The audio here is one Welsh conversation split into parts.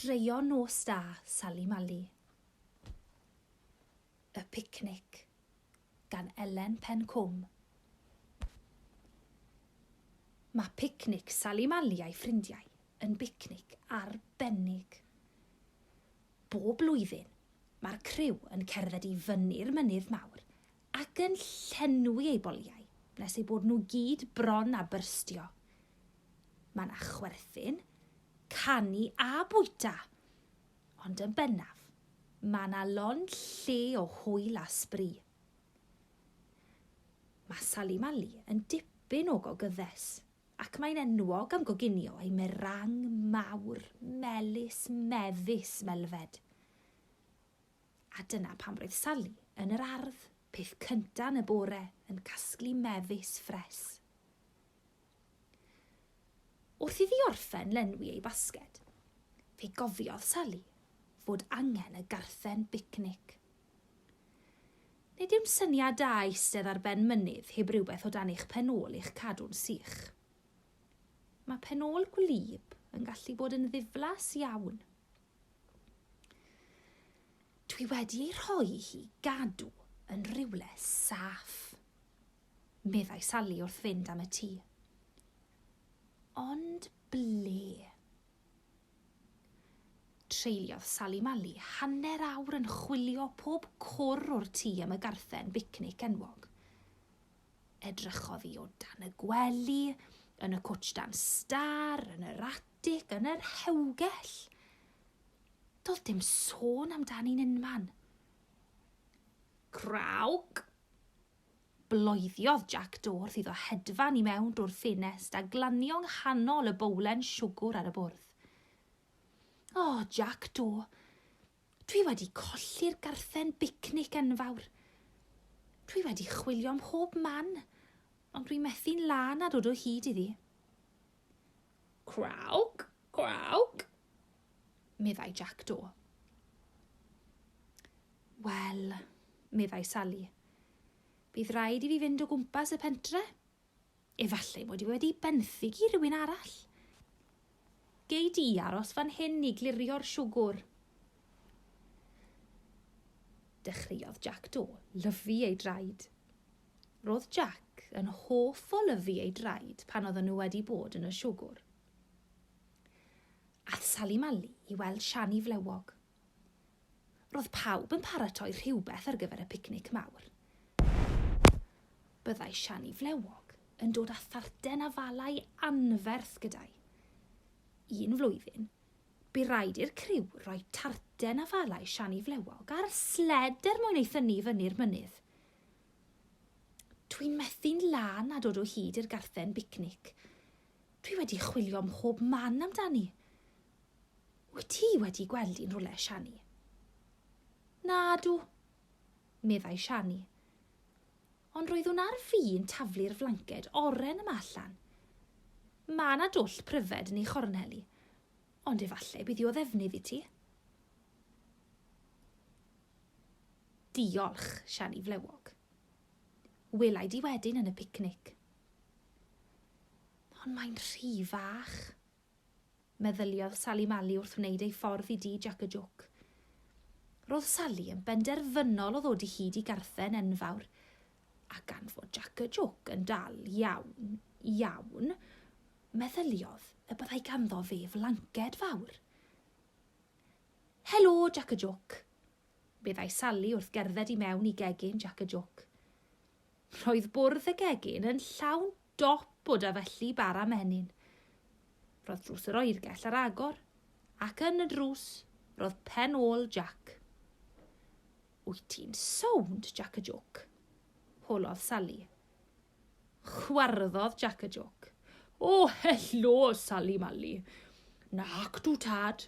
Straeon nos da, Sali Mali. Y Picnic, gan Elen Pencwm. Mae picnic Sali Mali a'i ffrindiau yn bicnic arbennig. Bob blwyddyn, mae'r criw yn cerdded i fyny'r Mynydd Mawr ac yn llenwi eu boliau nes eu bod nhw gyd bron â byrstio. Mae 'na chwerthin, canu a bwyta! Ond yn bennaf, mae 'na lon lle o hwyl a sbri. Mae Sali Mali yn dipyn o gogyddes. Ac mae'n enwog am goginio ei merang mawr, melys, mefus, melfed. A dyna pam roedd Sali yn yr ardd, peth cynta yn y bore, yn casglu mefus ffres. Wrth iddi orffen lenwi ei basged, fe gofiodd Sali fod angen y garthen bicnic. Nid yw'n syniad da eistedd ar ben mynydd heb rywbeth o dan eich pen-ôl i'ch cadw'n sych. Mae pen-ôl gwlyb yn gallu bod yn ddiflas iawn. Dwi wedi ei rhoi hi gadw yn rhywle saff, meddai Sally wrth fynd am y tŷ. Ond ble? Treuliodd Sally Mally hanner awr yn chwilio pob cwr o'r tŷ am y garthen bicnic enwog. Edrychodd hi o dan y gwely, yn y cwtsh dan star, yn yr atic, yn yr hewgell. Doedd dim sôn amdani'n unman. Crawc! Bloediodd Jac Dorth iddo hedfan i mewn drwy'r ffenest a glanio nghanol y bowlen siwgwr ar y bwrdd. O, Jac Do, dwi wedi colli'r garthen bicnic enfawr. Dwi wedi chwilio mhob man, ond dwi methu'n lân â dod o hyd iddi. Crawc, crawc, meddai Jac Do. Wel, meddai Sali, bydd rhaid i fi fynd o gwmpas y pentre. Efallai mod i wedi benthyg i rywun arall. Gei di aros fan hyn i glirio'r siwgwr. Dechreuodd Jac Do lyfu ei draed. Roedd Jac yn hoff o lyfu ei draed pan oedden nhw wedi bod yn y siwgwr. Ath Sali Mali i weld Siani Flewog. Roedd pawb yn paratoi rhywbeth ar gyfer y picnic mawr. Byddai Siani Flewog yn dod â tharten a falau anferth gyda'i. Un flwyddyn, bu raid i'r criw roi tarten a falau Siani Flewog ar sled er mwyn ei thynnu i fyny'r mynydd. Dwi'n methu'n lân a dod o hyd i'r garthen bicnic. Dwi wedi chwilio mhob man amdani. Wyt ti wedi gweld un rwle, Shani? Nadw, meddai Shani. Ond roeddwn ar fin taflu'r flanced oren yma allan. Mae yna dwll pryfed yn ei chorneli, ond efallai bydd hi o ddefnydd i ti. Diolch, Siani Flewog. Wela i di wedyn yn y picnic. Ond mae'n rhy fach. Meddyliodd Sali Mali wrth wneud ei ffordd i di Jac y Jwc. Roedd Sali yn benderfynol o ddod i hyd i garthen enfawr, a gan fod Jac y Jwc yn dal iawn, iawn, meddyliodd y byddai ganddo fe flanced fawr. Helo, Jac y Jwc! meddai Sali wrth gerdded i mewn i gegin Jac y Jôc. Roedd bwrdd y gegin yn llawn dop o dafelli bara menyn. Roedd drws yr oergell ar agor, ac yn y drws roedd pen ôl Jac. Wyt ti'n sownd, Jac y Jôc? holodd Sali. Chwarddodd Jac y jôc. O, helo, Sali Mali. Nac dw tad.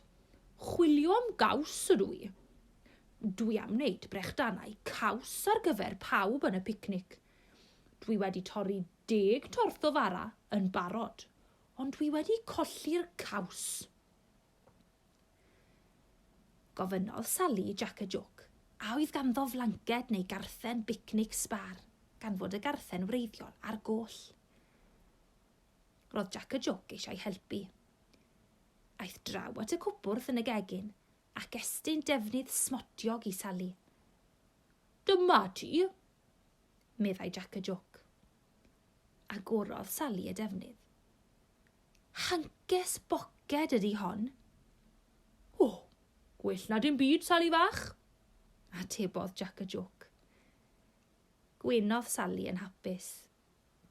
Chwilio am gaws ydw i. Dwi am wneud brechdanau caws ar gyfer pawb yn y picnic. Dwi wedi torri deg torth o fara yn barod, ond dwi wedi colli'r caws. Gofynnodd Sali i Jac y Jwc a oedd ganddo flanced neu garthen bicnic sbâr, gan fod y garthen wreiddiol ar goll. Roedd Jac y Jwc eisiau helpu. Aeth draw at y cwpwrdd yn y gegin ac estyn defnydd smotiog i Sali. Dyma ti, meddai Jac y Jwc. Agorodd Sali y defnydd. Hances boced ydi hon. O, gwell na dim byd, Sali fach, atebodd Jac y Jôc. Gwenodd Sali yn hapus.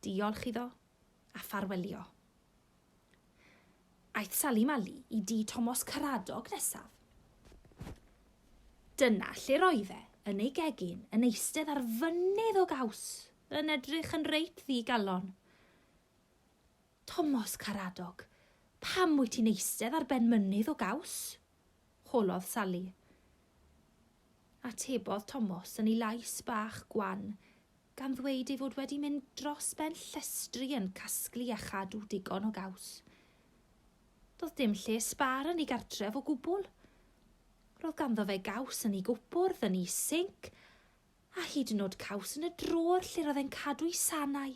Diolch iddo, a ffarwelio. Aeth Sali Mali i dŷ Tomos Caradog nesaf. Dyna lle'r oedd e, yn ei gegin, yn eistedd ar fynydd o gaws, yn edrych yn reit ddi-galon. Tomos Karadog, pam wyt ti'n eistedd ar ben mynydd o gaws? holodd Sali. Atebodd Tomos yn ei lais bach gwan, gan ddweud ei fod wedi mynd dros ben llestri yn casglu a chadw digon o gaws. Doedd dim lle sbar yn ei gartref o gwbl. Roedd ganddo fe gaws yn ei gwpwrdd, yn ei sinc, a hyd yn oed caws yn y drôr lle'r oedd e'n cadw'i sanau.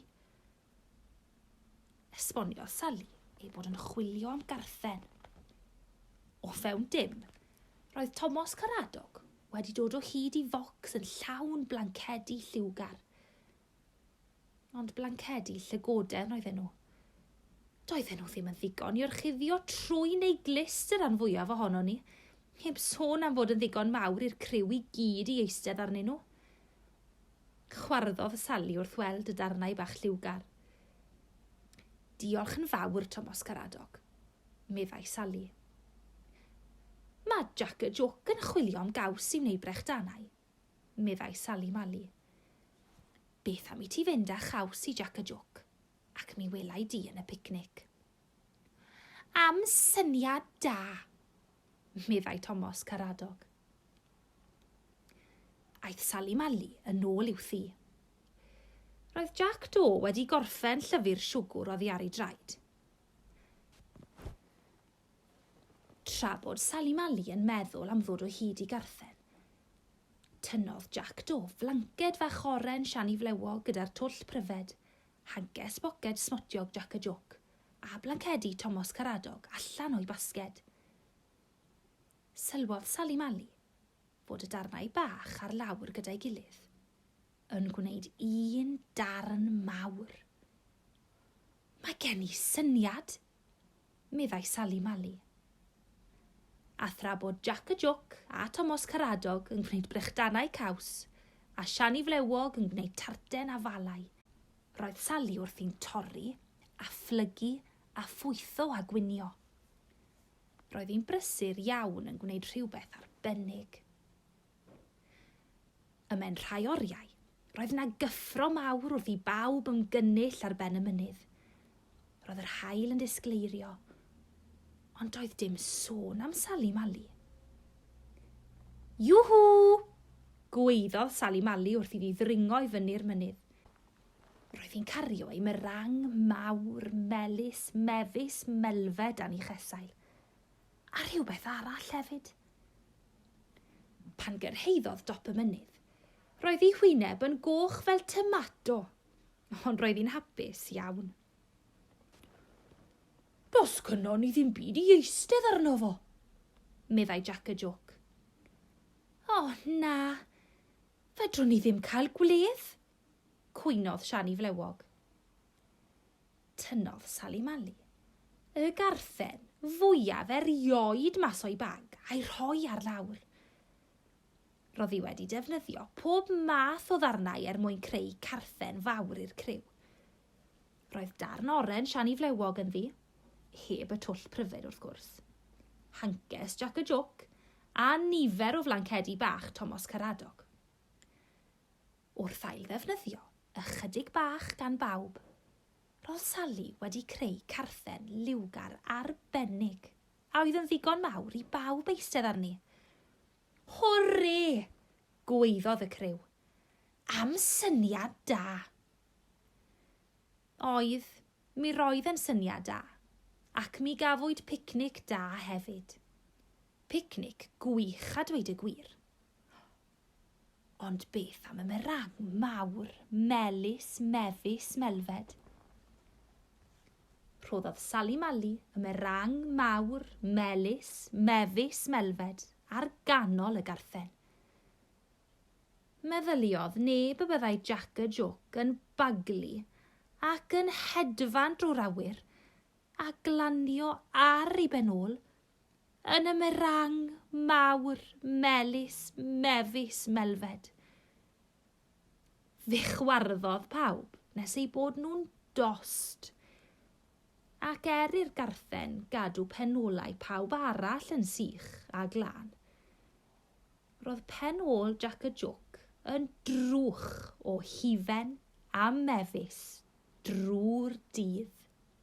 Esboniodd Sally ei bod yn chwilio am garthen. O fewn dim, roedd Tomos Caradog wedi dod o hyd i focs yn llawn blancedi lliwgar, Ond blancedi llygoden oedden nhw. Doedden nhw ddim yn ddigon i orchuddio trwy neu glist yr rhan fwyaf ohono ni, heb sôn am fod yn ddigon mawr i'r criw i gyd i eistedd arnyn nhw. Chwarddodd Sally wrth weld y darnau bach lliwgar. Diolch yn fawr, Tomos Caradog, meddai Sally. Mae Jack y Joc yn chwilio am gaws i wneud brechdanau, meddai Sali Mali. Beth am i ti fynd â chaws i Jac y Jôc, ac mi welai di yn y picnic. Am syniad da, meddai Tomos Caradog. Aeth Sali Mali yn ôl i'w thi. Roedd Jac Do wedi gorffen llyfr siwgwr oddi ar ei draed. Tra bod Sali Mali yn meddwl am ddod o hyd i garthen, tynnodd Jac Do flanced fach oren siani flewog gyda'r twll pryfed, hages boced smotiog Jac y Jôc, a blancedi Tomos Caradog allan o'i basged. Sylwodd Sali Mali fod y darnau bach ar lawr gyda'i gilydd yn gwneud un darn mawr. Mae gen i syniad! meddai Sali Mali. A thra bod Jac y Jwc a Tomos Caradog yn gwneud brechdanau caws, a Siani Flewog yn gwneud tarten a falau, roedd Sali wrthi'n torri, a phlygu, a phwytho a gwnïo. Roedd hi'n brysur iawn yn gwneud rhywbeth arbennig. Y mewn rhai oriau, roedd yna gyffro mawr wrth i bawb ymgynnull ar ben y mynydd. Roedd yr haul yn disgleirio, ond doedd dim sôn am Sali Mali. Juhu! gweiddodd Sali Mali wrth iddi ddringo i fyny'r mynydd. Roedd hi'n cario ei merang mawr, melys, mefus, melfed a'n ei chesail. A rhywbeth arall hefyd. Pan gyrhaeddodd dop y mynydd, roedd ei hwyneb yn goch fel tomato, ond roedd hi'n hapus iawn. Dos cynno ni ddim byd i eistedd arno fo, meddai Jack y Joc. O, oh, na, fedrwn ni ddim cael gwledd, cwynodd Siani Flewog. Tynnodd Sali Mali y garthen fwyaf erioed mas o'i bag a'i rhoi ar lawr. Roedd hi wedi defnyddio pob math o ddarnau er mwyn creu carthen fawr i'r criw. Roedd darn oren siani flewog ynddi, heb y twll pryfed wrth gwrs, hances Jac y Jôc a nifer o flancedi bach Tomos Caradog. Wrth ailddefnyddio ychydig bach gan bawb, roedd Sally wedi creu carthen liwgar arbennig a oedd yn ddigon mawr i bawb eistedd arni. Hwrê! gwaeddodd y criw. Am syniad da! Oedd, mi roedd yn syniad da, ac mi gafwyd picnic da hefyd. Picnic gwych a dweud y gwir. Ond beth am y merang mawr, melys, mefus, melfed? Rhoddodd Sali Mali y merang mawr, melys, mefus, melfed ar ganol y garthen. Meddyliodd neb y byddai Jac y Joc yn baglu ac yn hedfan drwy'r awyr a glanio ar ei ben ôl Yn y merang mawr melys mefus melfed, fe chwarddodd pawb nes eu bod nhw'n dost, ac er i'r garthen gadw pen-olau pawb arall yn sych a glân, roedd pen-ôl Jac y Jwc yn drwch o hufen a mefus drwy'r dydd.